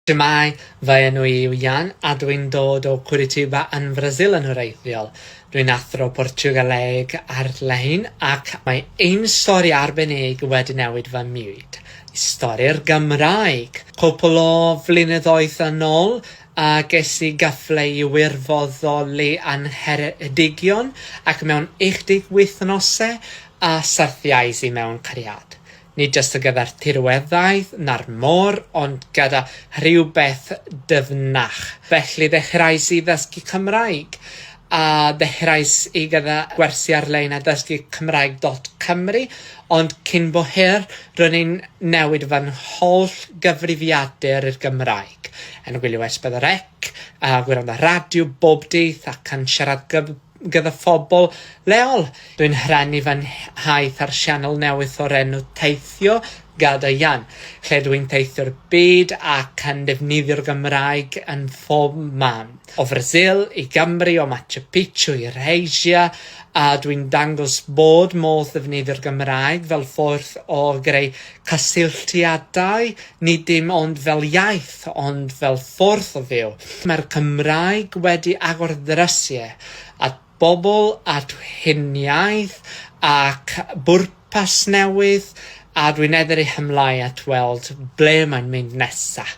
Shwmae, fy enw i yw Jan a dw i'n dod o Curitiba yn Frasil yn wreiddiol. Dw i'n athro Portiwgaleg ar-lein ac mae ein stori arbennig wedi newid fy mywyd. Y stori'r Gymraeg! Cwpl o flynyddoedd yn ol a ges i gyfle i wirfoddoli yn Ngheredigion ac mewn 18 wythnose a syrthiais i mewn cariad. Nid jyst ar gyfer tirweddau na'r môr, ond gyda rhywbeth dyfnach. Felly ddechreuais i ddysgu Cymraeg, a ddechreuais i gyda gwersi ar-lein a dysgu Cymraeg dot Cymru, ond cyn bo hir, ro'n i'n newid fy ngholl gyfrifiadur i'r Gymraeg, yn gwylio Esbyd yr Ec, a gwrando ar radio bob dydd, ac yn siarad Gymraeg gyda phobl leol. Dwi'n rhannu fy nhaith ar sianel newydd o'r enw Teithio Gada Ian, lle dwi'n teithio'r byd ac yn defnyddio'r Gymraeg yn phob man. O Frasil i Gymru, o Machu Picchu i'r Asia, a dwi'n dangos bod modd defnyddio'r Gymraeg fel ffordd o greu Cysylltiadau, nid dim ond fel iaith, ond fel ffordd o fyw. Mae'r Cymraeg wedi agor ddrysie at bobl, at huniaith ac bwrpas newydd, a dwi'n edrych ymlaen at weld ble mae'n mynd nesaf.